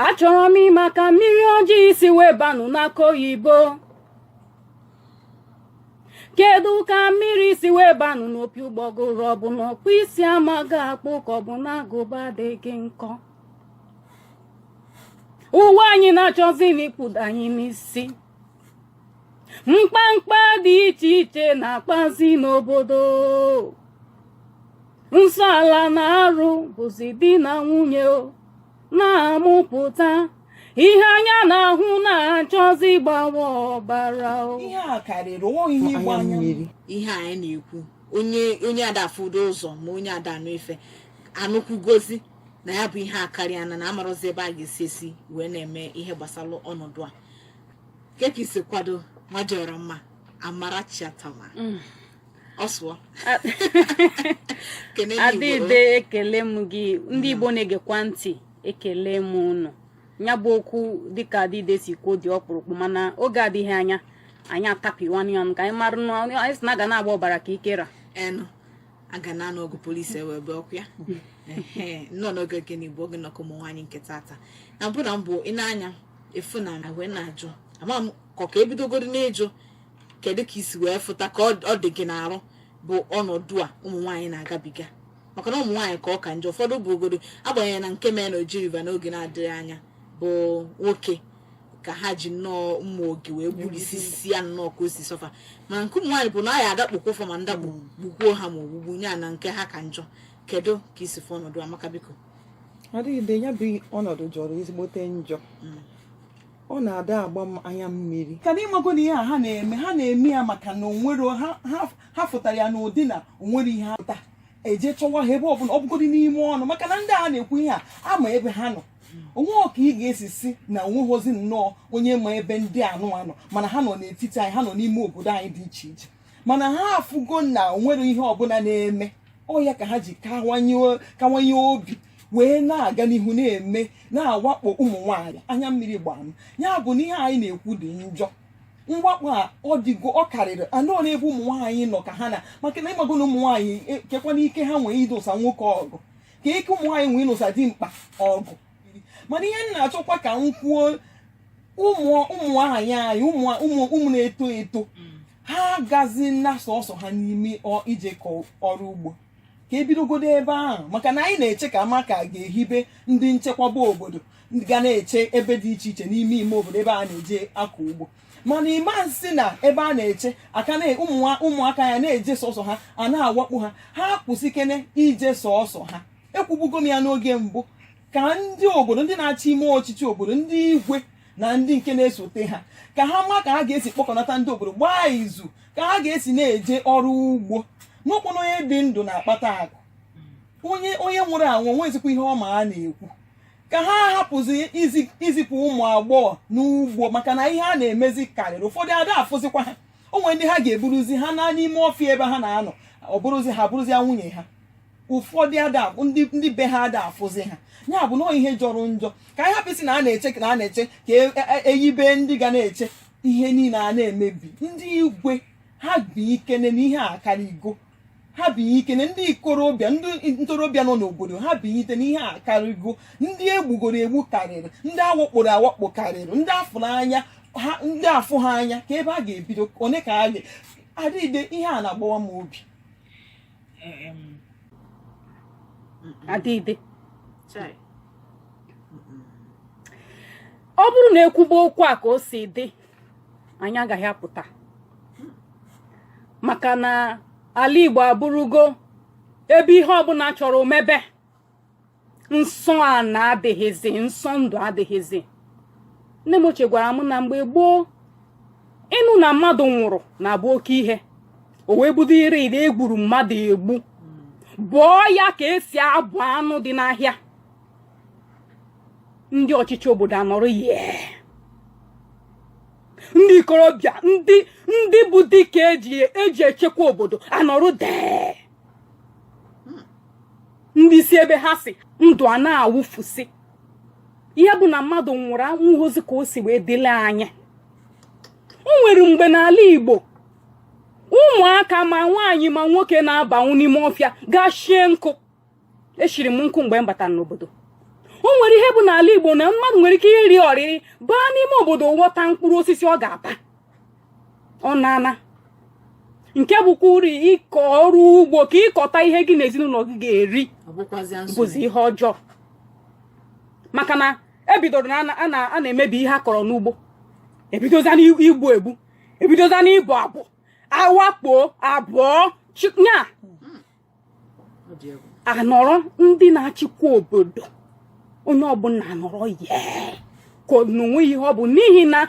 achọrọ m ịma ka mmiri ọjọọ si wee banụ n'akụ oyibo kedu ka mmiri si wee banụ n'opi ụgbọgụrụ ọ bụ na ọkpụ isi amaghị akpụ ka ọ bụ na agụba adịghị nkọ ụwa anyị na-achọzi n'ikpudo anyị n'isi mkpamkpa dị iche iche na-akpazi n'obodo nsọ ala na arụ bụzi di na nwunye na-amụpụta ihe anya na-ahụ na-achọzi gbawa ọbara ihe a karịrị onweghị ihe ịgba anya mmiri ihe anyị na-ekwu onye onye ada afụdo ụzọ ma onye ada anụ ife anụkwugozi na ya bụ ihe akarịana na amarọzi ebe a ga-esi esi wee na-eme ihe gbasara ọnọdụ a kee ka isi kwado nwa dị ọra mma Amarachi Atama mm. ọsụọ adịde ekele m gị ndị Igbo mm. na-egekwa ntị ekele m ụnụ ya bụ okwu dịka adịde si kwuo dị ọkpụrụkpụ mana oge adịghị anya anyị atapịwanụ ya ka anyị mara anyị si na aga na-agba ọbara ka ikera enu aga na anụ ọgụ polisi ewe ebe ọkụ ya nnọọ n'oge gịnị bụ oge nnọkọ ụmụ nwaanyị nke tata na mbụ na mbụ ị na-anya efu na na wee na-ajụ ama m ka ka ebidogodu n'ịjụ kedu ka isi wee fụta ka ọ dị gị n'arụ bụ ọnọdụ a ụmụ nwaanyị na-agabiga maka na ụmụ nwaanyị ka ọ ka njọ ụfọdụ bụgodu agbanyeghị na nke mee na Oji River n'oge na-adịghị anya bụ nwoke ka ha ji nnọọ mma oge wee gburisisi ya nnọọ ka o si sọ fa mana nke ụmụ nwaanyị bụ na ọ ya adakpokwa fa ma ndakpo gbukwuo ha ma ogbugbu nya na nke ha ka njọ kedu ka isi fụ ọnọdụ a maka biko adịde ya bụ ọnọdụ jọrọ ezigbote njọ mm. ọ na-ada agba m anya mmiri ka na ịmago na ihe a ha na-eme ha na-eme ya maka na ha fụtara ya n'ụdị na onwerọ ihe ha pụta eje chọwa ha ebe ọbụla ọ bụgodị n'ime ọnụ maka na ndị a na-ekwu ihe a ama ebe ha nọ onwerọ ka ị ga-esi sị na onweghịzi nnọọ onye ma ebe ndị anụwa nọ mana ha nọ n'etiti anyị ha nọ n'ime obodo anyị dị iche iche mana ha afụgo na onwerọ ihe ọbụla na-eme ọ ya ka ha ji kawanye obi wee na-aga n'ihu na-eme na-awakpo ụmụ nwaanyị anya mmiri gbaa m ya bụ na ihe anyị na-ekwu dị njọ mwakpo a ọ dịgo ọ karịrị nnọọ n'ebe ụmụ nwaanyị nọ ka ha na maka na ịmago na ụmụ nwaanyị e, keekwanụ ike ha nwee ịnụsa nwoke ọgụ ka ike ụmụ nwaanyị nwee ịnụsa dimkpa ọgụ mana ihe m na-achọkwa ka m kwuo ụmụ nwaanyị ụmụ na-eto eto ha agazina sọsọ ha n'ime ije ọrụ ugbo ka ebidogodu ebe ahụ maka na anyị na-eche ka a ma ka a ga-ehibe ndị nchekwaba obodo ga na-eche ebe dị iche iche n'ime ime obodo ebe a na-eje akọ ugbo mana ịma sị na ebe a na-eche aka na ụmụaka ya na-eje sọsọ ha a na-awakpo ha ha kwụsịkene ije sọsọ ha ekwubugo m ya n'oge mbụ ka ndị obodo ndị na-achị ime ọchịchị obodo ndị igwe na ndị nke na-esote ha ka ha ma ka ha ga-esi kpọkọnata ndị obodo gbaa izu ka ha ga-esi na-eje ọrụ ugbo n'ụkpụrụ onye dị ndụ na-akpata akụ onye onye nwụrụ anwụ nwezikwa ihe ọ ma a na-ekwu ka ha hapụzi izipụ ụmụ agbọghọ n'ugbo maka na ihe a na-emezi karịrị ụfọdụ ada afụzikwa ha o nwee ndị ha ga-eburuzi ha naa n'ime ọfịa ebe ha na-anọ ọ bụrụzi ha bụrụzi nwunye ha ụfọdụ ada ndị ndị be ha ada afụzi ha ya bụ na ọ ihe jọrọ njọ ka anyị hapụsị na a na-eche na a na-eche ka e- e- e- ehibe ndị ga na-eche ihe niile a na-emebi ndị igwe ha bilikene na ihe a karịgo ha bilikene ndị ikorobịa ndị ntorobịa nọ n'obodo ha bilite na ihe a karịgo ndị egbugoro egbu karịrị ndị awakporo awakpo karịrị ndị afụ n'anya ha ndị afụ ha anya ka ebe a ga-ebido one ka a ga-edigide ihe a na-agbawa m obi adịdị ọ bụrụ na ekwuba okwu a ka o si dị anyị agaghị apụta maka na ala Igbo abụrụgo ebe ihe ọbụla chọrọ o mebe nsọ ana adịghịzi nsọ ndụ adịghịzi nne m ochie gwara m na mgbe gboo ịnụ na mmadụ nwụrụ na-abụ oke ihe o wee budo ire ire egburu mmadụ egbu bọọ ya ka esi abọ anụ dị n'ahịa ndị ọchịchị obodo anọrọ yee ndị ikorobịa ndị ndị bụ dike eji echekwa obodo anọrọ dee ndị si ebe ha si ndụ a na-awụfusi ihe bụ na mmadụ nwụrụ enweghịzi ka o si wee dị n'anya o nwere mgbe n'ala Igbo ụmụaka ma nwaanyị ma nwoke na-abanwu n'ime ọfịa gaa shie nkụ eshiri m nkụ mgbe m batara n'obodo o nwere ihe bụ n'ala Igbo na mmadụ nwere ike iri ọrịrị baa n'ime obodo ghọta mkpụrụ osisi ọ ga-ata ọ naana nke bụkwa uru ịkọ ọrụ ugbo ka ịkọta ihe gị na ezinụlọ gị ga-eri bụzi ihe ọjọọ maka na ebidoro na a na-emebi ihe a kọrọ n'ugbo ebidozia n'igbu egbu ebidozia n'ịbọ abọ awakpo abọọ nya anọrọ ndị na-achịkwa obodo onye ọbụla anọrọ yee ka na o nwe ihe ọ bụ n'ihi na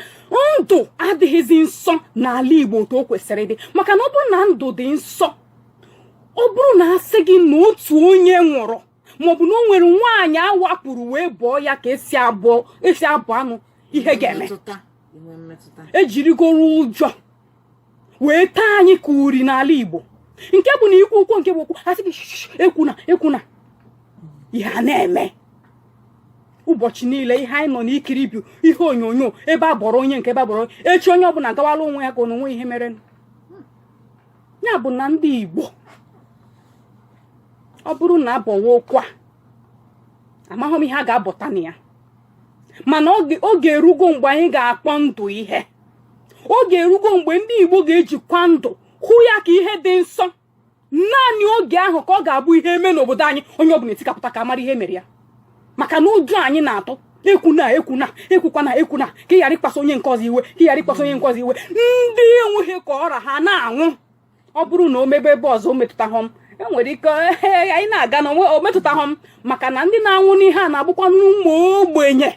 ndụ adịghịzi nsọ n'ala Igbo otu o kwesịrị ịdị maka na ọ bụrụ na ndụ dị nsọ ọ bụrụ na asị gị na otu onye nwụrụ maọbụ na o nwere nwaanyị awakporo wee bọọ ya ka esi abọ e anụ ihe ga-eme ejirigoro ụjọ wee taa anyị ka uri n'ala Igbo nke bụ na ikwu okwu nke bụ okwu a sị gị ekwuna ekwuna ihe a na-eme ụbọchị niile ihe anyị nọ na-ekiri bụ ihe onyonyo ebe a bọrọ onye nke ebe a bọrọ echi onye ọbụla gawala onwe ya ka ọ na onwe ihe mere ya bụ na ndị Igbo ọ bụrụ na a bọwa okwu a amaghị m ihe a ga-abọta na ya mana oge erugo mgbe anyị ga-akpọ ndụ ihe oge erugo mgbe ndị Igbo ga-ejikwa ndụ hụ ya ka ihe dị nsọ naanị oge ahụ ka ọ ga-abụ ihe eme n'obodo anyị onye ọbụla etikapụta ka a mara ihe mere ya maka na ụjọ anyị na-atụ ekwuna ekwuna ekwukwana ekwuna ka ị ghara ịkpaso onye nke ọzọ iwe ka ị ghara ịkpaso onye nke ọzọ iwe ndị enweghị ka ọ ra ha na-anwụ ọ bụrụ na o mebe ebe ọzọ o metụtahụ m enwere ike anyị na-aga na onwe o metụtahụ m maka na ndị na-anwụ n'ihe a na-abụkwanụ ụmụ ogbenye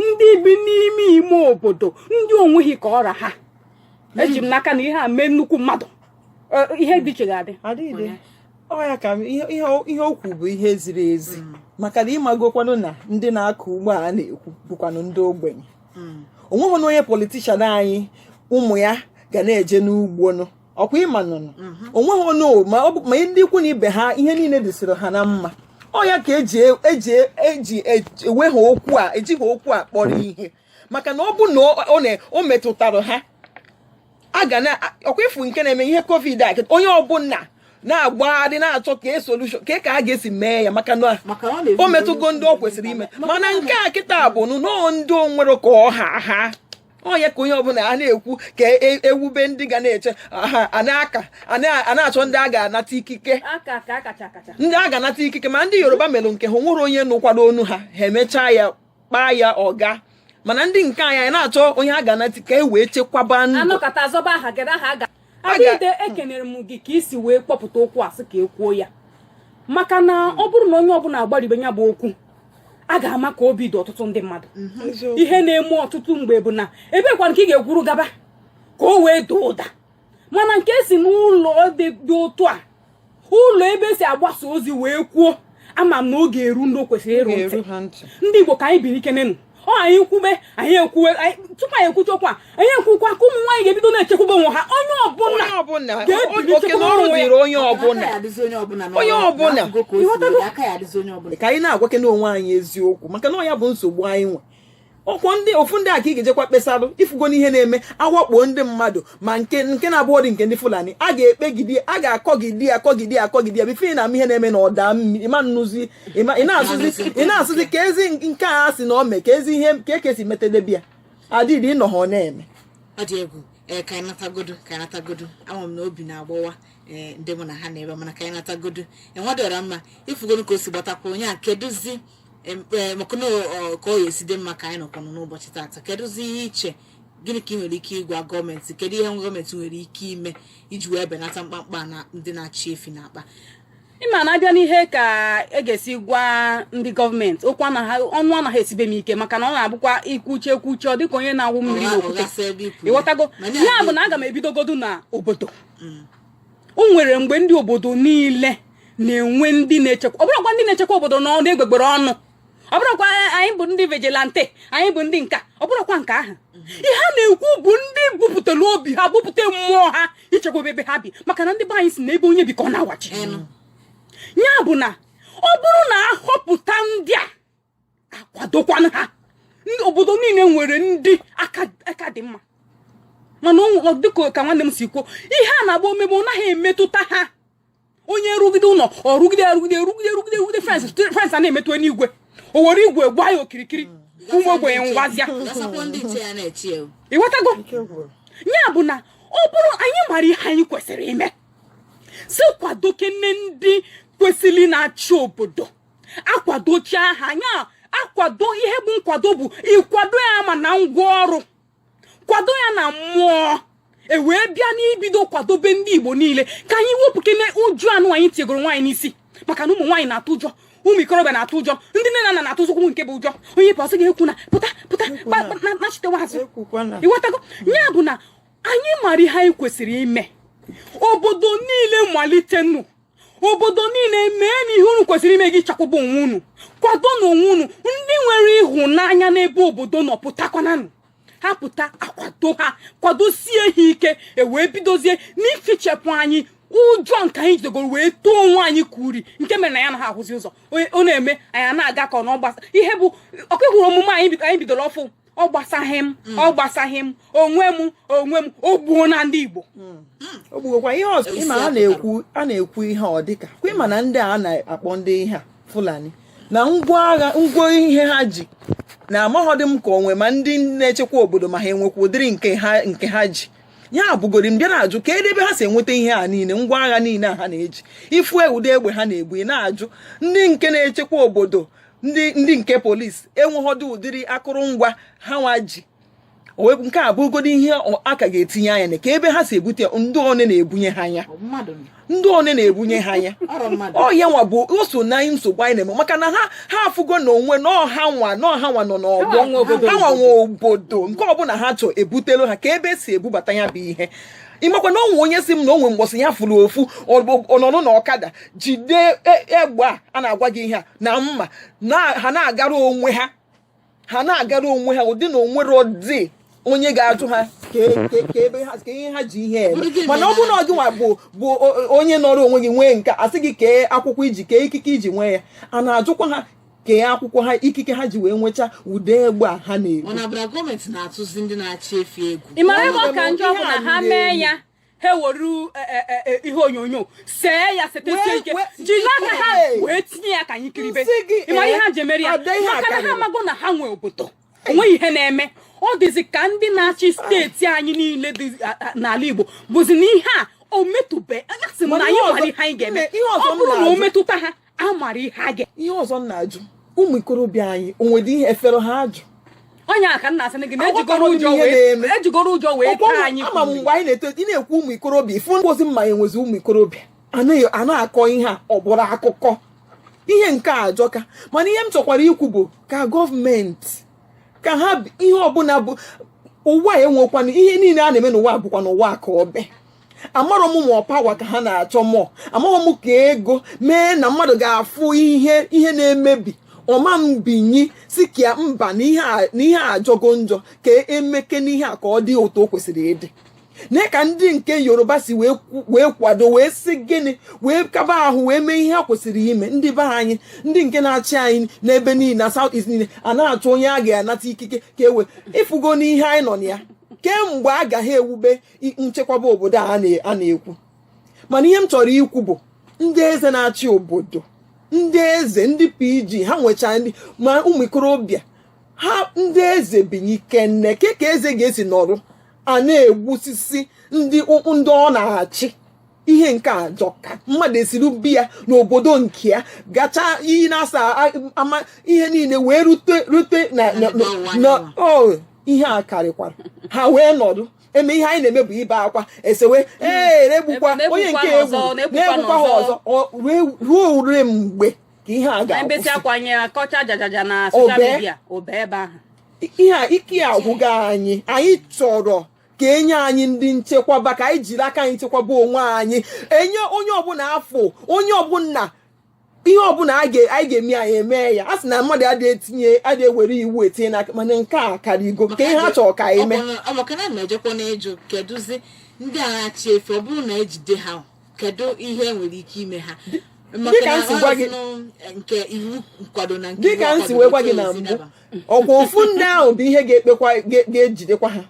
ndị bi n'ime ime obodo ndị o nweghị ka ọ ra ha eji m n'aka na ihe a mee nnukwu mmadụ ihe dị iche ga-adị ọ ya ka ihe okwu bụ ihe ziri ezi mm. maka na ị magokwanụ na ndị na-akọ ugbo a na-ekwu bụkwanụ ndị ogbenye hmm. o nweghịnụ onye politician anyị ụmụ ya ga na-eje n'ugbonụ ọkwa ị manụnụ mhm. onweghị onye ma ọ bụ ma ndị ikwu na ibe ha ihe niile dịsịrị ha na mma ọ ya ka eji eji eji eweghị okwu a ejighị okwu a kpọrọ ihe maka na ọ bụ na o metụtara ha a ga na ọkwa ị fụ nke na-eme ihe covid a onye ọbụla na-agbagharị na-achọ ka e solution ka e ka a ga-esi mee ya maka na o metụgo ndị o kwesịrị ime mana nke a kịta bụ nọọ ndị o nwerọ ka ọ ha ha ọ ya ka onye ọbụla a na-ekwu ka e, ewube ndị ga na-eche a na-aka a na-achọ ndị a ga-anata ikike ndị a ga-anata ikike ma ndị Yoruba mere nke ha o nwerọ onye nụkwara onu ha ha emechaa ya kpaa ya ọ gaa mana ndị nke anyị anyị na-achọ onye a ga-anata ikike wee chekwaba ndụ a nọkọta a zọba aha gị aha ga adịde ekenere m gị ka i si wee kpọpụta okwu a sị ka e kwuo ya maka na ọ bụrụ na onye ọbụla agbaribe ya bụ okwu a ga-ama ka obi dị ọtụtụ ndị mmadụ mhm. ihe na-eme ọtụtụ mgbe bụ na ebekwanụ ka ị ga-ekwuru gaba ka o wee daa ụda mana nke si n'ụlọ dị otu a ụlọ ebe e si agbasa ozi wee kwuo ama m na ọ ga-eru ndị o kwesịrị iru ntị ndị Igbo ka anyị binikenenụ o anyị kwube anyị ekwuwe tupu anyị ekwucha okwu a anyị ekwukwa ka ụmụ nwaanyị ga-ebido na-echekwaba onwe ha onye ọbụla ga-ebilichekwa onwe ya onye ọbụla onye ọbụla ka anyị na-agwakene onwe anyị eziokwu maka na ọ ya bụ nsogbu anyị nwe ọ kwa ndị ofu ndị a ka ị ga-ejekwa kpesalụ ị fụgo na ihe na-eme a wakpo ndị mmadụ ma nke nke na-abụghọdị nke ndị fulani a ga-ekpegide a ga-akọgide akọgide akọgide before ị na-ama ihe na-eme na ọ daa mmiri ịma nnụzi ịma ị na-asụzi ị na-asụzi ka ezi nke a sị na o mee ka ezi ihe ka ekesi metedebe ya adịdị ịnọ ha ọ na-eme ọ dị egwu ee ka anyị natagodu ka anyị natagodu ama m na obi na-agbawa ee ndị mụ na ha na-ebe mana ka anyị natagodu enwedịọra mma ị fụgonụ ka o si gbatakwa onye a kedụzi Em, eh, maka na ọ- ka ọ ya esi dị mma ka anyị nọkwanụ n'ụbọchị tata kedụzi ihe i che gịnị ka ị nwere ike ịgwa gọọmenti kedu ihe gọọmenti nwere ike ime iji wee benata mkpamkpa ndị na-achị efi na-akpa ị ma na a bịa n'ihe ka e ga-esi gwa ndị gọọmenti okwu anaghị ọnụ anaghị esibe m ike maka na ọ na-abụkwa i kwuchaa ekwuchaa ọ dịka onye na-awụ mmiri n'okwute ụgha sị ebe i kwuru. ị ghọtago Mana ya bụ na aga m ebidogodu na obodo o nwere mgbe ndị obodo niile na-enwe ndị na-echekwa ọ bụrọkwa ndị na-echekwa obodo na ọnụ egbugbere ọnụ ọ bụrọkwa anyị bụ ndị vigilante anyị bụ ndị nke a ọ bụrọkwa nke ahụ ihe a na-ekwu bụ ndị bupụtara obi ha bupụta mmụọ ha ichekwa ebe ha bi maka na ndị be anyị sị na ebe onye bi ka ọ na-awachi ya bụ na ọ bụrụ na a họpụta ndị a a kwadokwanụ ha obodo niile nwere ndị aka dị mma mana dịka ka nwanne m si kwuo ihe a na-agba o mebe ọ naghị emetụta ha onye rụgide ụlọ ọ rụgide rụgide rụgide rụgide rụgide fence fence a na-emetụ n'igwe o were igwe gbaa ya okirikiri ụmụ ogbenye nwụzịa ị ghọtago ya bụ na ọ bụrụ anyị mara ihe anyị kwesịrị ime sị kwadokene ndị kwesịrị na-achị obodo a kwadochaa ha anya akwado ihe bụ nkwado bụ ịkwado ya ma na ngwa ọrụ kwado ya na mmụọ e wee bịa n'ibido kwadobe ndị igbo niile ka anyị wepụkene ụjọ anwa anyị tiegoro onwe anyị n'isi maka na ụmụ nwaanyị na-atụ ụjọ ụmụ ikorobịa na-atụ ụjọ ndị nne na nna na-atụzịkwa nke bụ ụjọ onye pụọ sị gị ekwuna pụta pụta nachitewa azụ ị ghọtago ya bụ na anyị mara ihe anyị kwesịrị ime obodo niile malitenụ obodo niile meenụ ihe unu kwesịrị ime iji chekwaba onwe unu kwadonụ onwe unu ndị nwere ịhụnanya n'ebe obodo nọ pụtakwananụ ha pụta a kwado ha kwadosie ha ike e wee bidozie n'ifichapụ anyị ụjọ nke anyị jigoro wee tee onwe anyị ka uri nke mere na anya anaha ahụzi ụzọ ọ na-eme anyị na-aga ka ọ na ọgbasa ihe bụ ọkụ hụrụ omume anyị bidoro ọfụ ọ gbasaghị m ọ gbasaghị m onwe m onwe m o gbuona ndị Igbo o gbuokwa ihe ọzọ ịma a na-ekwu a na-ekwu ihe ọ dịka kwa ịma na ndị a na-akpọ ndị ihe a Fulani na ngwa agha ngwa ihe ha ji na amaghọdị m ka onwe ma ndị na-echekwa obodo ma ha enwekwa ụdịrị nke ha nke ha ji ya abụgori m bịa na-ajụ kedụ ebe ha si enweta ihe a niile ngwa agha niile a ha na-eji ị fụ ụdị egbe ha na-ebu ị na-ajụ ndị nke na-echekwa obodo ndị ndị nke polisi enwehọdụ ụdịrị akụrụngwa ha nwa ji nke a bụgodu ihe a ka ga-etinye anya na kee ebe ha si ebute ndị one na-ebunye ha ya ndị one na-ebunye ha ya ọ ya nwa bụ o so na nsogbu anyị na-eme maka na ha ha afụgo na o nwe na ọ ha nwa na ọ ha nwa na ọ bụ ha nwa nwe obodo nke ọbụla ha chọ e butelu ha kee ebe e si ebubata ya bụ ihe ị makwa na o nwe onye sị m na o nwe mbọsị ya fụrụ ofu nọdụ na ọkada jide e, egbe a a na-agwa gị ihe a na mma ha na-agara onwe ha ha na-agara onwe ha ụdị na o nwerọdị onye ga-ajụ ha kee ebe ha kee ihe ha ji ihe eme mana ọ bụrụ na ọ gịnwa bụ bụ onye nọrọ onwe gị nwee nke a sị gị kee akwụkwọ i ji kee ikike i ji nwee ya a na-ajụkwa ha kee akwụkwọ ha ikike ha ji wee nweta ụdị egbe a ha na-ebu. Ọ na-abụra gọọmenti na-atụzi ndị na-achị efi egwu. Ị mara ebe ọ ka njọ bụ na ha mee ya ha were e, e, e, ihe onyonyo see ya setesie ike jiri aka ha wee tinye ya ka anyị kiribe ị mara ihe ha ji emere ya maka na ha amago na ha nwe obodo o nweghị ihe na-eme ọ dịzi ka ndị na-achị steeti anyị niile dị n'ala Igbo bụzi na ihe a o metụbe asị m na anyị nwere ihe anyị ga-eme ọ bụrụ na o metụta ha a mara ihe a ga ihe ọzọ m na-ajụ ụmụ ikorobịa anyị o nwedị ihe e fere ha ajụ onye a ka m na-asị gị na ejigoro ụjọ wee ejigoro ụjọ wee taa anyị ama m mgbe anyị na-eto ị na-ekwu ụmụ ikorobịa ị fụrọzi ma e nwezi ụmụ ikorobịa a na-akọ ihe a ọ bụrọ akụkọ ihe nke a ajọka mana ihe m chọkwara ikwu bụ ka gọọmenti ka ha ihe ọbụla bụ ụwa enwekwana ihe niile a na-eme n'ụwa bụkwa n'ụwa ka o bi amarọ m ma ọ pawa ka ha na-achọ mọ amarọ m ka ego mee na mmadụ ga-afụ ihe ihe na-emebi ọ ma mbinye sị ka mba na ihe ajọgo njọ ka e mekene ihe a ka ọ dị otu o kwesịrị ịdị na ka ndị nke yoruba si wee kwado wee si gịnị wee kaba ahụ wee mee ihe ha kwesịrị ime ndị be anyị ndị nke na-achị anyị n'ebe niile na south east niile a na-achọ onye a ga-anata ikike ka e wee ị fụgo ihe anyị nọ na ya kemgbe a gaghị ewube nchekwaba obodo a na-ekwu mana ihe m chọrọ ikwu bụ ndị eze na-achị obodo ndị eze ndị pg ha nwechaa ndị ma ụmụ ikorobịa ha ndị eze binyekene kee ka eze ga-esi nọrụ a na-egbusisi ndị ndị ọ na-achị ihe nke a ajọka mmadụ esiri be ya n'obodo nke ya gacha iyi naasaa ama ihe niile wee rute rute na ihe a karịkwara ha wee nọrụ eme ihe anyị na-eme bụ ibe akwa esewe ee na-egbukwa onye nke e gbu na-egbukwa ha ọzọ ruo ole mgbe ka ihe a ga-akwụsị ihe ike agwụgo anyị anyị chọrọ ka e nye anyị ndị nchekwaba ka anyị jiri aka anyị chekwaba onwe anyị e nye onye ọbụla a fụ onye ọbụla ihe ọbụla anyị ga-eme anyị eme ya a sị na mmadụ adịghị etinye adịghị ewere iwu etinye n'aka mana nke a karịgo ka ihe ha chọrọ ka anyị mee ọbakana na-ejekwa n'ịjụ kedụzi ndị a na-achị efi ọ bụrụ na ejide ha kedụ ihe nwere ike ime ha dịka m si gwa gị nke iwu nkwado na nke dịka m si wee gwa gị na mbụ ọkwa ofu ndị ahụ bụ ihe ga-ekpekwa ga-ejidekwa ha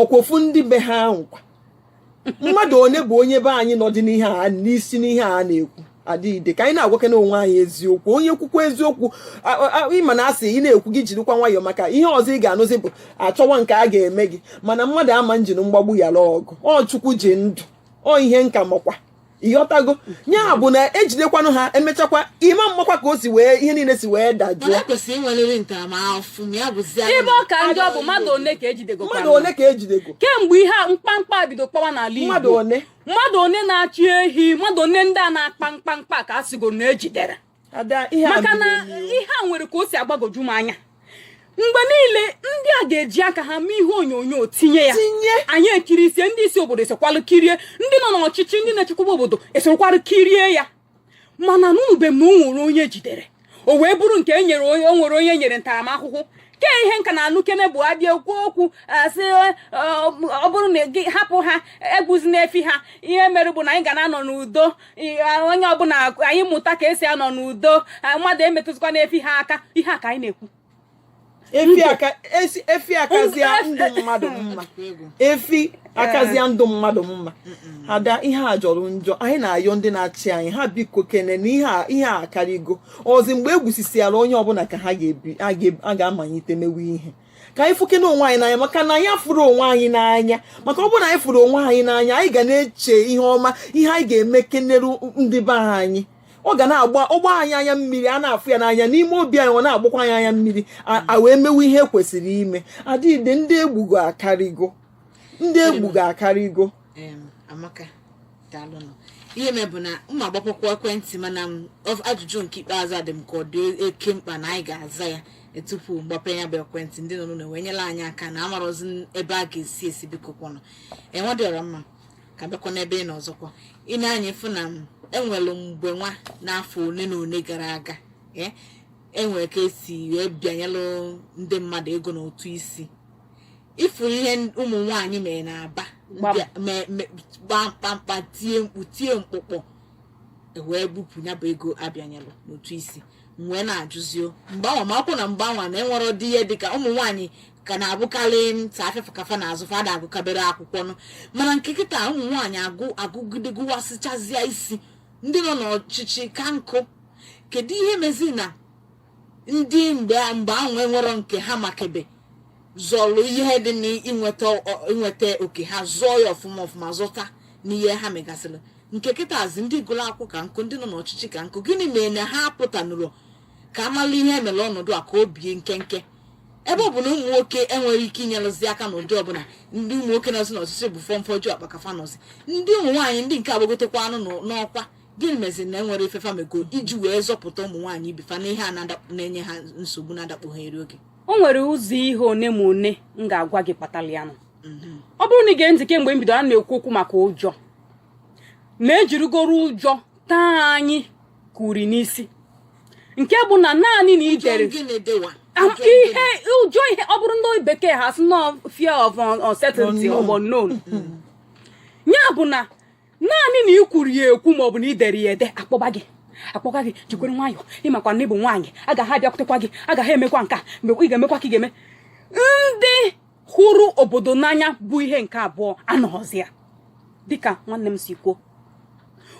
ọkwa ofu ndị be ha ahụ kwa mmadụ onye bụ onye be anyị nọdị n'ihe a n'isi n'ihe a na-ekwu ada ide ka anyị na-agwakena onwe anyị eziokwu onye kwukwa eziokwu ị ma na asị ị na-ekwu gị jirikwa nwayọọ maka ihe ọzọ ị ga-anụzi bụ achọwa nke a ga-eme gị mana mmadụ ama njiru mgbagbu yala ọgụ ọ chukwu ji ndụ ọ ihe m ka makwa ịghọtago ya bụ na ejidekwanụ ha emechakwa ị ma mmakwa ka o si wee ihe niile si wee dajụọ mana kwesịrị inwerịrị ntaramahụhụ ma ya bụzi ebe ọ ka njọ bụ mmadụ one ka ejidego mmadụ ole ka ejidego kemgbe ihe a mkpamkpa a bido kpawa n'ala Igbo mmadụ ole mmadụ one na-achị ehi mmadụ one ndị a na-akpa mkpamkpa ka a sịgo na ejidere maka na ihe a nwere ka o si agbagoju m anya mgbe niile ndị a ga-eji aka ha mee ihe onyonyo tinye ya anyị ekiri isi ndị isi obodo esokwalụ kirie ndị nọ n'ọchịchị ndị na-echekwaba obodo esokwalụ kirie ya mana anụbe m na o nwere onye e jidere o wee bụrụ nke e nyere onye o nwere onye e nyere ntaramahụhụ ke ihe m ka na-anụkene bụ a bịa kwuo okwu a sị ọ bụrụ na gị hapụ ha egbuzina efi ha ihe mere bụ na anyị ga na-anọ n'udo onye ọbụla anyị mụta ka esi anọ n'udo mmadụ emetụzikwana efi ha aka ihe a ka anyị na-ekwu efi akazia ndụ mmadụ mma efi akazia ndụ mmadụ mma ada ihe a jọrọ njọ anyị na-ayọ ndị na-achị anyị ha biko kene na ihe a karịgo ọ zi mgbe e gbusisiala onye ọbụla ka ha ga-amalite mewe ihe ka anyị fụke onwe anyị n'anya maka na anyị fụrụ onwe anyị n'anya maka ọ bụrụ na anyị fụrụ onwe anyị n'anya anyị ga na-eche ihe ọma ihe anyị ga-eme keneru ndị be anyị ọ ga na-agba ọgba anyị anya mmiri a na-afụ ya n'anya n'ime obi anyị ọ na-agbakwa anyị anya mmiri a wee mewe ihe kwesịrị ime ada ide ndị egbugo akarịgo ndị egbugo akarịgo amaka daalụnụ ihe mere bụ na m ga-agbapekwa ekwentị mana m ọ- ajụjụ nke ikpeazụ a dị m ka ọ dị oke mkpa na anyị ga-aza ya e, tupu m gbape ya bụ ekwentị ndị nọ n'ụlọ wee nyelụ anyị aka na amarozi n- ebe a ga-esi esi biko kwanụ igwe dị ọra mma ka m bịakwa n'ebe ị nọ ọzọkwa i nee anya ị fụ na enwere mgbe nwa n'afọ ole na ole gara aga ee enwere ka esi wee bịanyelụ ndị mmadụ ego n'ụtụ isi ịfụ ihe ụmụ nwaanyị mere n'Aba kpaa mkpamkpa tie mkpu tie mkpụkpọ e wee bupụ ya bụ ego a bịanyelụ n'ụtụ isi wee na-ajụzi o mgbe anwa ma akwụ na mgbe anwa na enwerọdị ihe dịka ụmụ nwaanyị ka na-abụkarị sọ afịa afịa ka fa na-azụ fa ada agụkabere akwụkwọ nụ mana nke kịta ụmụ nwaanyị agụ agụgide gụwasịchazịa isi ndị nọ n'ọchịchị ka nkụ kedu ihe mezi na ndị mgbe mgbe ahụ enwerọ nke ha makebe zọlụ ihe dị n'inweta oke ha zọọ ya ọfụma ọfụma zọta n'ihe ha megasịrị nke kịtazi ndị gụrụ akwụkwọ ka nkụ ndị nọ n'ọchịchị ka nkụ gịnị mere na ha apụtanụrọ ka a mala ihe e mere ọnọdụ a ka o bie nkenke ebe ọ bụ na ụmụ nwoke enweghị ike inyerụzi aka n'ụdị ọbụla ndị ụmụ nwoke nọzi n'ọchịchị bụ fọmfọju akpa ka fa nọzi ndị ụmụ nwaanyị ndị nke agbagotekwanụ n'ọkwa gịnị mezi na enwerọ ife fa mego iji wee zọpụta ụmụ nwaanyị ibe fa n'ihe a na-enye ha nsogbu na-adakpo ha eri oge o nwere ụzọ ihe one ma one m ga-agwa gị kpatara ya nụ mhm. ọ bụrụ na ị gee ntị kemgbe m bido a na-ekwu okwu maka ụjọ na e jirigoro ụjọ taa anyị kuri n'isi nke bụ na naanị na ị dere ihe ụjọ ihe ọ bụrụ ndị bekee ha sị n'ọ fear of uncertainty of unknown ya bụ na naanị na ị kwuru ya ekwu maọbụ na ị dere ya ede a kpọba gị a kpọba gị jikwara nwayọọ ị makwa na ị bụ nwaanyị agaghị abịakwutekwa gị agaghị emekwa nke a ị ga-emekwa ka ị ga-eme ndị hụrụ obodo n'anya bụ ihe nke abụọ anọghọzi ya dịka nwanne m si kwuo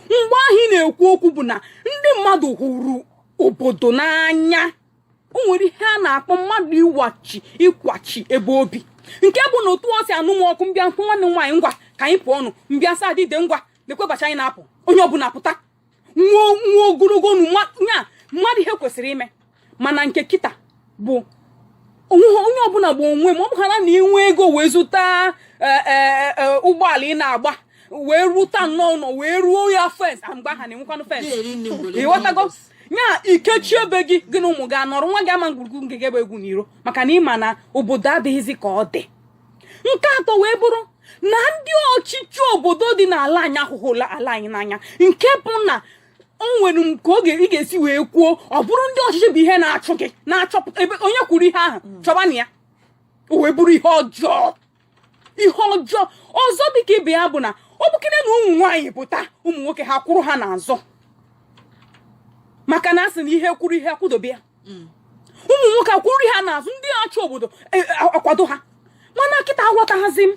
mgbe ahụ ị na-ekwu okwu bụ na ndị mmadụ hụrụ obodo n'anya o nwere ihe a na-akpọ mmadụ ịwachi ịkwachi ebe o bi nke bụ na otu o si anụ m ọkụ m bịakwu nwanne m nwaanyị ngwa ka anyị pụọ ọnụ m bịa sa adịde ngwa nekwe ụbọchị anyị na-apụ onye ọbụla pụta nwa nwa ogologo nu nwa nya mmadụ ihe kwesịrị ime mana nke kịta bụ onwe ha- onye ọbụla bụ onwe ma ọ bụhala na i nwee ego wee zụta eh, eh, eh, ụgbọala ị na-agba wee rụta nnọọ ụlọ wee rụọ ya fence mgbe ahụ a na-enwekwanụ fence ị ghọtago nya i kechie ebe gị gị na ụmụ gị anọrọ nwa gị ama egwuru egwu nke gị ebe egwu n'iro maka na ị ma na obodo adịghịzi ka ọ dị nke atọ wee bụrụ na ndị ọchịchị obodo dị n'ala anyị ahụghị ala anyị n'anya nke bụ na o nwere nke oge ị ga-esi wee kwuo ọ bụrụ ndị ọchịchị bụ ihe na-achụ gị na-achọpụta ebe onye kwuru ihe ahụ chọba na ya o wee bụrụ ihe ọjọọ ihe ọjọọ ọzọ dịka ibe ya bụ na ọ bụkene na ụmụ nwaanyị pụta ụmụ nwoke ha kwụrụ ha n'azụ maka na a sị na ihe kwụrụ ihe akwụdobe ya mm. ụmụ nwoke akwụrụ ha n'azụ ndị achị obodo e, e, akwado ha mana kịta aghọtaghịzi m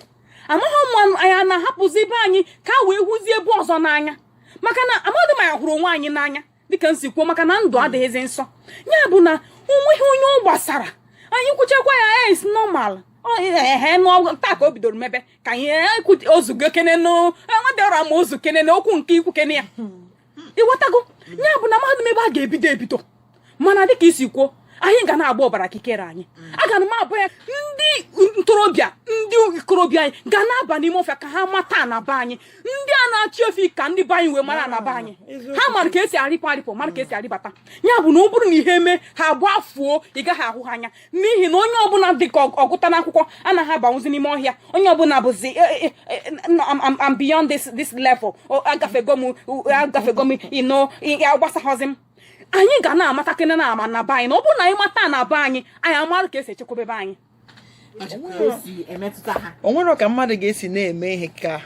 amaghị m ma anyị na-ahapụzi be anyị ka a wee hụzie ebe ọzọ n'anya maka na amadị m ma anyị hụrụ onwe anyị n'anya dịka m si kwuo maka na ndụ adịghịzi nsọ ya bụ na onweghị onye ọ gbasara anyị kwuchakwa ya as normal ehe na ọ bụ taa ka o bidoro mebe ka anyị o zugokene na ihe a adịrọ mma o zukene na okwu nke i kwukene ya ịghọtago ya bụ na amaghịdị m ebe a ga-ebido ebido mana dịka i si kwuo anyị ga na-agba ọbara kikere anyị mm. aga na m abụ ya ndị ntorobịa ndị ikorobịa anyị ga na-aba n'ime ọhịa ka ha mata ana be anyị ndị a na-achị efi ka ndị be anyị wee mara ana be anyị ha mara ka esi arịpụ arịpụ mara ka esi arịbata ya bụ na ọ bụrụ na ihe mee ha gbafuo ị gaghị ahụ ha anya n'ihi na onye ọbụla dị ka ọ gụta n'akwụkwọ anaghị abanwụzi n'ime ọhịa onye ọbụla bụzi eh, eh, eh, I'm beyond this level agafego m agafego m ihe a agbasaghịzi m anyị ga na-amatakene na ama ana be anyị na ọ bụrụ na anyị mata ana be anyị anyị amara ka esi echekwaba be anyị o nwere ka mmadụ ga-esi na-eme ihe ka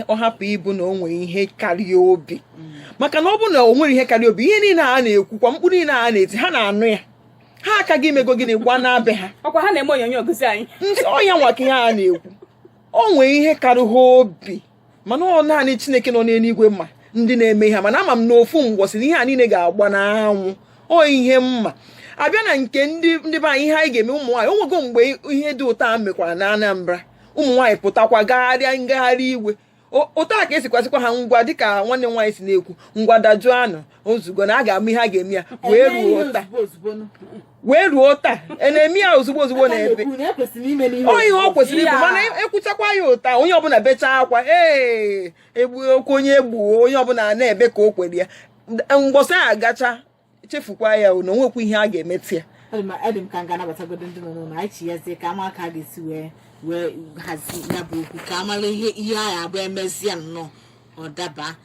ọ hapụ ịbụ na o nwere ihe kara ya obi mm. maka na ọ bụ na o nwere ihe kara ya obi ihe niile a na-ekwukwa mkpu niile a na-eti ha na-anụ ya ha aka gị i mego gịnị gwa na be ha ọkwa ha na-eme onyonyo gosi anyị so ya nwa ka ihe a na-ekwu o nwee ihe kara ha obi mana ọ naanị chineke nọ n'eluigwe ma ndị na-eme ihe mana ama m na ofu mbọsị na ihe a niile ga-agba n'anwụ ọ ihe m ma a bịa na nke ndị ndị be anyị ihe anyị ga-eme ụmụ nwaanyị onwego mgbe ihe dị otu a mekwara na Anambra ụmụ nwaanyị pụtakwa gagharịa ngagharị iwe otu a ka e si gwazikwa ha ngwa dịka nwanne nwaanyị si na-ekwu ngwa dajụọnụ o zugo na a ga-ama ihe a ga-eme ya wee ruo taa wee ruo taa a na-eme ya ozugbo ozugbo na ebe ọ ihe ọ kwesịrị ịbụ mana e, ekwuchakwa ya otu a onye ọbụla bechaa akwa ee egbu okwu onye egbuo onye ọbụla na-ebe ka o kwere ya mbọsị a gacha e chefukwa ya na onwekwa ihe a ga-emeti ya ọ dị m ka m ga-anabatagodo ndị nọ n'ụlọ anyị chiyazie ka a ma ka a ga-esi wee wee hazie ya bụ okwu ka a mara ihe ihe ga-abụ e mezie ya nnọọ ọ daba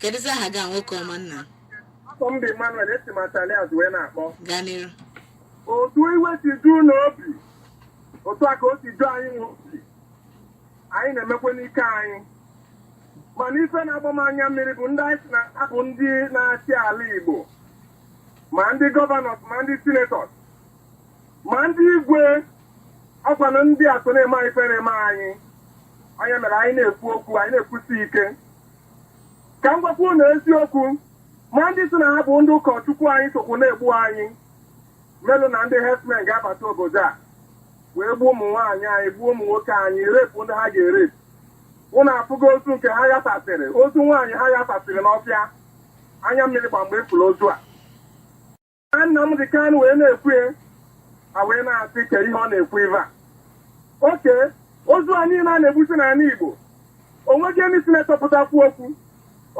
kedụzi aha gị a nwoke ọma nna afa m bụ Emmanuel esi m atali azụ wee na-akpọ gaa n'iru otu iwe si ju unu obi otu a ka o si ju anyị nwa obi anyị na-emekwa n'ike anyị mana ife na-agba m anya mmiri bụ ndị anyị sị na ha bụ ndị na-achị ala Igbo ma ndị governors ma ndị senators ma ndị igwe ọkwa na ndị a so na-eme anyị ife na-eme anyị ọ ya mere anyị na-ekwu okwu anyị na-ekwusi ike ka m gwakwa unu eziokwu ma ndị sị na ha bụ ndị ụkọchukwu anyị sokwu na-egbu anyị melu na ndị herdsmen ga-abata obodo a wee gbuo ụmụ nwaanyị anyị gbuo ụmụ nwoke anyị repụ ndị ha ga-erepụ unu afụgo ozu nke ha ghasasịrị ozu nwaanyị ha ghasasịrị n'ọfịa anya mmiri gba m mgbe a fụrụ ozu a a Nnamdi Kanu wee na-ekwu ya a wee na-asị ke ihe ọ na-ekwu ive a oke ozu a niile a na-egbusi n'ala igbo onweghị ndị sinetọ pụta kwuo okwu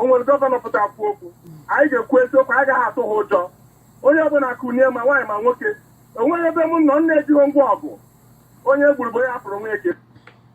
onwere gọvanọ pụta kwuo okwu anyị ga-ekwu eziokwu anyị gaghị atụ ha ụjọ onye ọbụla kunie ma nwaanyị ma nwoke onweghị ebe m nọ nna ejighị ngwa ọgụ onye gburu bụ onye hapụrụ onwe eke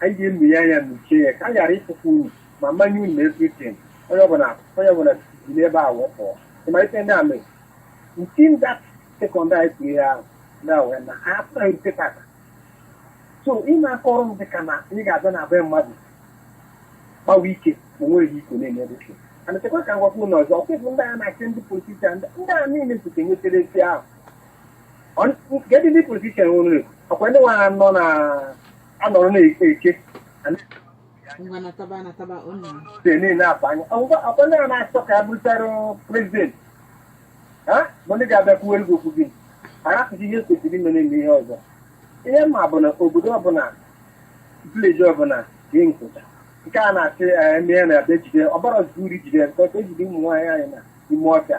anyị ga-emu ya anya mechie ya ka a ghara ịpụkwa unu ma mmanye unu everything onye ọbụla onye ọbụla si n'ebe a wụpụọ ịmalite ndị amị nti nda sekọnd anyị kwuru ya ahụ na wee na ha apụghị nke tata so ị na-akọrọ m dịka na ị ga-abịa na be mmadụ gbawa ike ma nweghị iko na-enyere ike ana chekwa ka ngwakwu ụlọ ọzọ ọkwụkwụ ndị a na-achị ndị politishan ndị a niile site nwetere esi ahụ kedụ ndị politishan nwere ọkwa ndị nwa ha nọ na a nọrọ na-eke eke a na- ngwa nataba anataba ọ na dị niile akpa anya ọgwụgwọ akpa ndị a na-achọ ka ya bụrụtara prezidenti ha bụ ndị ga-abịa kwuwere gị okwu gị arapụ ihe kwesịrị ime na-eme ihe ọzọ ihe ma bụ na obodo ọbụla vileji ọbụla ndị nkụta nke a na-achị eme ya na-abịa jide ọbara zuru jide nke ọcha ejide ụmụ nwaanyị anyị na ime ọfịa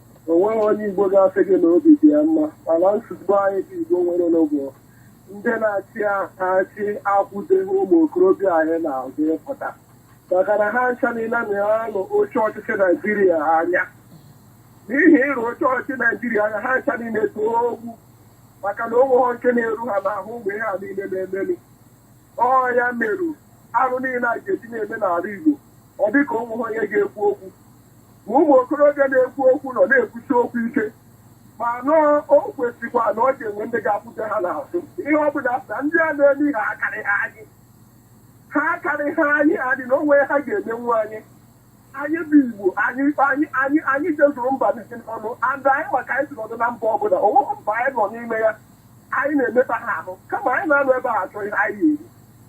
o nweghị onye Igbo ga-asị gị na obi dị ya mma mana nsogbu anyị bụ Igbo nwere n'ụgwọ ndị na-achị achị akwụdeghị ụmụ okorobịa anyị n'azụ ịpụta maka na ha ncha niile na-arọ oche ọchịchị Naijiria anya n'ihi ịrọ oche ọchịchị Naijiria anya ha ncha niile too ogwu maka na onweghọ nke na-eru ha n'ahụ ụmụ ihe a niile na-emeli ọ ya meru arụ niile a ga-eji na-eme n'ala Igbo ọ dịka onweghị onye ga-ekwu okwu ma ụmụ okorobịa na-ekwu okwu nọ na-ekwusi okwu ike mana o kwesịkwa na ọ ga-enwe ndị ga-akwụde ha n'azụ ihe ọ bụ na ndị a na-eme ihe akarịha anyị ha akarịha anyị adị na onwe ha ga-emenwu anyị anyị bụ igbo anyị anyị anyị anyị jezuru mba niile n'ụwa and anyị ma ka anyị si anọdụ na mba ọbụla onweghị mba anyị nọ n'ime ya anyị na-emeta ha ahụ kama anyị na-anọ ebe ahụ achọ ihe anyị ga-eri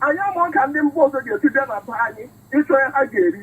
anyị amahọ ka ndị mba ọzọ ga-esi bịa na be anyị ịchọ ihe ha ga-eri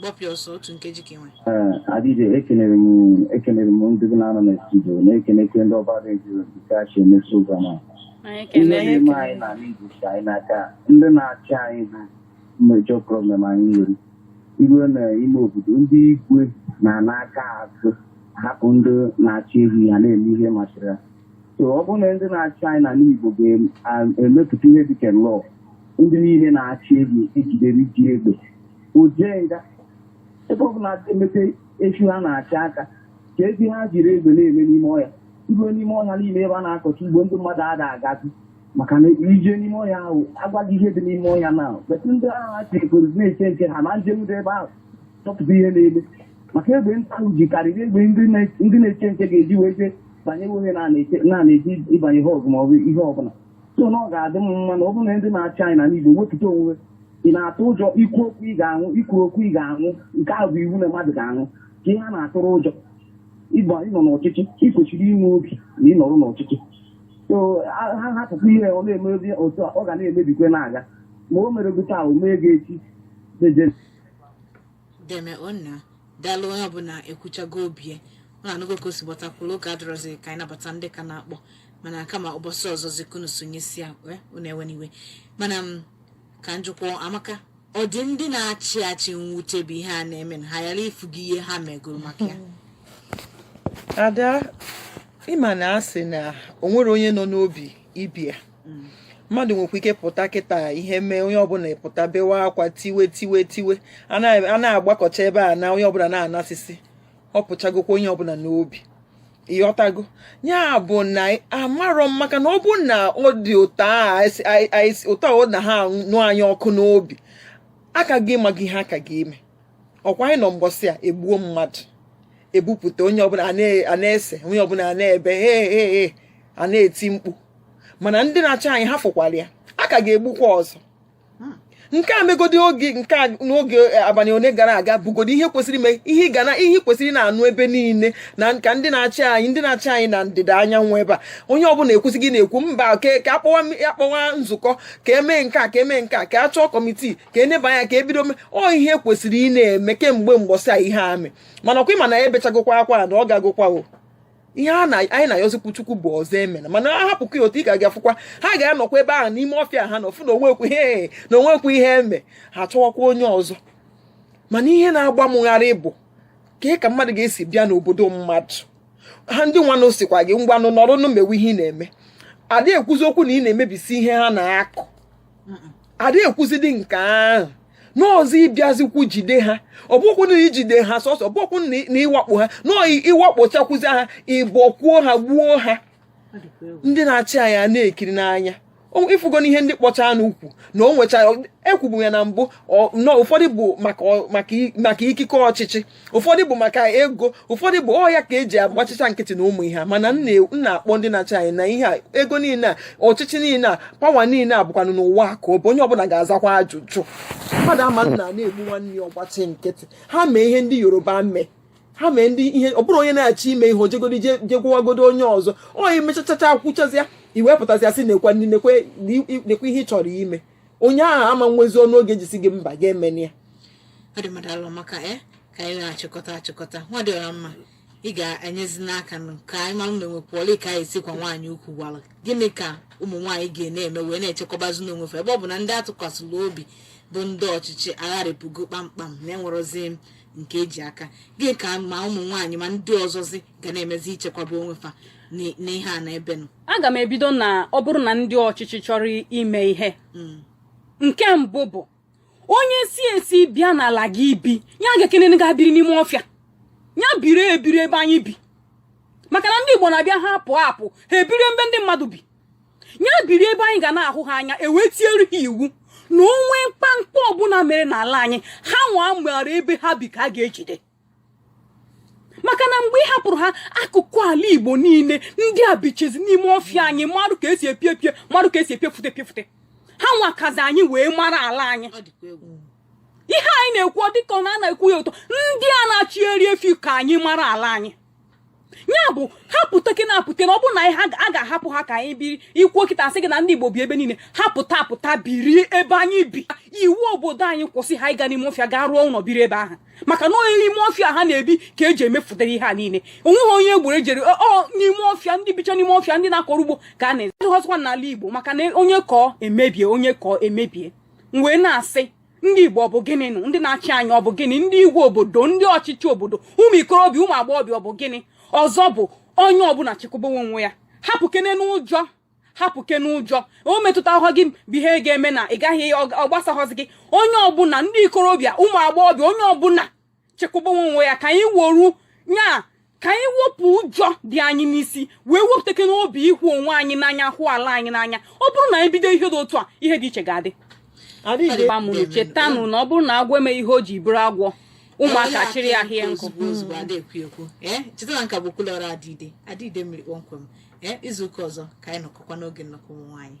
gbapịa ọsọ otu nkeji ka ị nwe ee adịghị ekelere m ekelere m ndị gị na ha nọ na studio na-ekelekwe ndị ọba redio nke a si eme program a Anyị ihe ekele anyị na-eme anyị n'ala Igbo si anyị n'aka ndị na-achị anyị bụ major problem anyị nwere i ruo n'ime obodo ndị igwe na-ana aka azụ hapụ ndị na-achị ehi ha na-eme ihe masịrị ha so ọ bụrụ na ndị na-achị anyị n'ala Igbo ga-emepụta ihe dịka law ndị niile na-achị ehi e jidere ji egbe o jee nga ebe ọ bụla emete a sị ha na-achị aka ka ezi ha jiri egbe na-eme n'ime ọhịa ruo n'ime ọhịa niile ebe a na-akọcha ugbo ndị mmadụ ada agazi maka na ije n'ime ọhịa ahụ a gwa gị ihe dị n'ime ọhịa na betụ ndị ahụ ha chekoro na-eche nche ha na njem dị ebe ahụ chọpụta ihe na-eme maka egbe ndị ahụ ji karịrị egbe ndị na- ndị na-eche nche ga-eji wee jee banye ihe na-eche ịbanye ha ọgụ ma ọ bụ ihe ọbụla so na ọ ga-adị m mma na ọ bụrụ na ndị na-achị anyị n'ala Igbo wepụta onwe ị na-atụ ụjọ ikwu okwu ị ga-anwụ ikwurọ okwu ị ga-anwụ nke ahụ bụ iwu na mmadụ ga-anwụ ka ihe a na-atụrụ ụjọ ị bụ onye nọ n'ọchịchị ị kwesịrị inwe obi na ị nọrọ n'ọchịchị so a- ha hapụkwa ihe ọ na-emebi otu a, ọ ga na-emebikwe na-aga ma o mere gị taa o mee gị echi deje deme onna daalụ onye ọbụla ekwuchago obi ya unu anụgo ka o si gbata kwụrụ oge adịrọzi ka anyị nabata ndị ka na-akpọ mana kama ụbọchị ọzọzi ka unu sonyesi ya wee unu ewena iwe mana ka m jụkwuo Amaka ọ dị ndị na-achị achị mwute bụ ihe a na-eme na ha ghara ifu gị ihe ha megoro maka ya ada ịma na asị na o nwere onye nọ n'obi ibia mmadụ nwekwu ike pụta kịta ihe mee onye ọbụla pụta bewa akwa tiwe tiwe tiwe a na-agbakọcha ebe a na onye ọbụla na-anasịsị ọ pụchagokwa onye ọbụla n'obi ịghọtago ya bụ na amarọ m maka na ọ bụ na ọ dị ụtọ ọ na-anụ anyị ọkụ n'obi a ka ga-ama ihe a ka ga-eme ọkwa anyị nọ mbọsị a egbuo mmadụ ebupụta onye ọbụla a na-ese onye ọbụla a na-ebe he he he a na-eti mkpu mana ndị na-achị anyị ha fụkwara ya a ka ga-egbukwa ọzọ hmm. nke a megodi oge nke a n'oge eh, abalị one gara aga bụgodi ihe kwesịrị ime ihe ga na ihe kwesịrị na-anụ ebe niile n'aka ndị na-achị anyị ndị na-achị anyị na ndịda anyanwụ ebe a onye ọbụla ekwesịghị na-ekwu mba ka akpọwa nzukọ ka emee nke a ka emee nke a ka a chọọ kọmitii ka eneba anya ka ebido ọ ihe kwesịrị ịna-eme kemgbe mgbọsị a ihe a mee mana ọkwa ịma na ebechagokwa akwa na ọ gagokwa o ihe a na anyị na-ayọzikwu chukwu bụ ọzọ emena mana a hapụkwu ya otu a ị ka ga-afụkwa ha ga-anọkwa ebe ahụ n'ime ọfịa ha na-afụ na onwekwu ihe na onwekwu ihe eme ha chọwakwa onye ọzọ mana ihe na-agba mụ gharị bụ ka ị ka mmadụ ga-esi bịa n'obodo mmadụ ha ndị nwanụ sịkwa gị ngwanụ nọrọnụ mewe ihe ị na-eme ada ekwuzi okwu na ị na-emebisi ihe ha na-akụ ada ekwuzidi nke ahụ n'ọzọ ịbịazikwu jide ha ọ bụkwu na ijide ha sọsọ ọ bụkwu na ịwakpo ha na ịwakpochakwuzi ha ịbọkwuo ha gbuo ha ndị na-achị anyị na-ekiri n'anya ịfụgo na ihe ndị kpọcha anụ ukwu na o nwechara ekwubu ya na mbụ na ụfọdụ bụ maka ikike ọchịchị ụfọdụ bụ maka ego ụfọdụ bụ ọ ya ka eji agbachicha nkịtị na ụmụ ihe mana m na-akpọ ndị na-achị anyị na ihe a ego niile a ọchịchị niile a pawa niile a bụkwanụ n'ụwa ka ọ bụ onye ọbụla ga-azakwa ajụjụ mmadụ ama nọ a na-egbu nwanne ya ọ gbachi nkịtị ha mee ihe ndị yoruba mee ha mee ndị ihe ọ bụrụ onye na-achọ ime ihe o jegodi je gwagodo onye ọzọ o mechachacha kwụchazịa iwepụtazịa sị nekwe ndị nekwe ihe ị chọrọ ime onye ahụ ama nwezi ọnụ ọ ga-eji sị gị mba gị emena ya ọ dị mma daalụ maka e ka anyị na-achịkọta achịkọta nwa dị ọra mma ị ga-enyezi n'aka nụ ka anyị mara na onwe pụọla ka anyị sikwa nwaanyị ukwu gwara gịnị ka ụmụ nwaanyị ga na-eme wee na-echekwabazinụ onwe fa ebe ọ bụ na ndị atụkwasịrị obi bụ ndị ọchịchị agharịpụgo kpamkpam na enwerozi nke eji aka gịnị ka ma ụmụ nwaanyị ma ndị ọzọzi ga na-emezi ichekwaba onwe fa n'i- n'ihe a na-emenụ aga m ebido na ọ bụrụ na ndị ọchịchị chọrọ ime ihe hmm. nke mbụ bụ onye si esi bịa n'ala gị ibi ya agakenene ga biri n'ime ọfịa ya biri ebiri ebe anyị bi maka na ndị Igbo na-abịa ha apụ apụ ha ebiri ebe ndị mmadụ bi ya biri ebe anyị ga na-ahụ ha anya ewee tiere ha iwu na o nwee mkpamkpa ọbụla mere n'ala anyị ha nwa mara ebe ha bi ka a ga-ejide maka na mgbe ị hapụrụ ha akụkụ ala igbo niile ndị a bichezi n'ime ọfịa anyị marụ ka esi epie epie marụ ka esi epiefute epiefute ha nwa kazi anyị wee mara ala anyị ihe anyị na-ekwu ọ dịka ọ na a na-ekwu ya ụtọ ndị a na-achịgharị efi ka anyị mara ala anyị ya bụ ha pụtakene apụta na ọ bụrụ na anyị a ga-ahapụ ha ka anyị biri ikwuo kịta asị gị na ndị Igbo bi ebe niile ha pụta apụta biri ebe anyị bi iwu obodo anyị kwụsị ha ịga n'ime ọfịa gaa rụọ ụlọ biri ebe ahụ maka na ọ n'ime ọfịa ha na-ebi ka eji emefụtara ihe a niile onweghị onye egburu ejere ọ n'ime ọfịa ndị bicha n'ime ọfịa ndị na-akọrọ ugbo ka a na-ezi ọzọkwa n'ala Igbo maka na onye kọọ emebie onye kọọ emebie m wee na-asị ndị igbo ọ bụ gịnị nụ ndị na-achị anyị ọ bụ gịnị ndị igwe obodo ndị ọchịchị obodo ụmụ ikorobịa ụmụ agbọghọbịa ọ bụ gịnị ọzọ bụ onye ọbụla chekwabawa onwe ya hapụkene ụjọ hapụkene ụjọ o metụtahụ gị bụ ihe ga-eme na ị gaghị ọ gbasaghọzi gị onye ọbụla ndị ikorobịa ụmụ agbọghọbịa onye ọbụla chekwabawa onwe ya ka anyị woru ya ka anyị wepụ ụjọ dị anyị n'isi wee wepụtakene obi ịhụ onwe anyị n'anya hụ ala anyị n'anya ọ bụrụ na anyị bido ihe dị otu a ihe dị iche ga-adị mụrụ chetanụ na ọ bụrụ na agwọ emeghị ihe o ji bụrụ agwọ ụmụaka chịrị ya hie nkụ cheta na nke a bụ kwulọrọ adịide adịide mmiri kpọmkwem izu ụka ọzọ ka anyị nọkọkwa n'oge nnọkọ ụmụ nwaanyị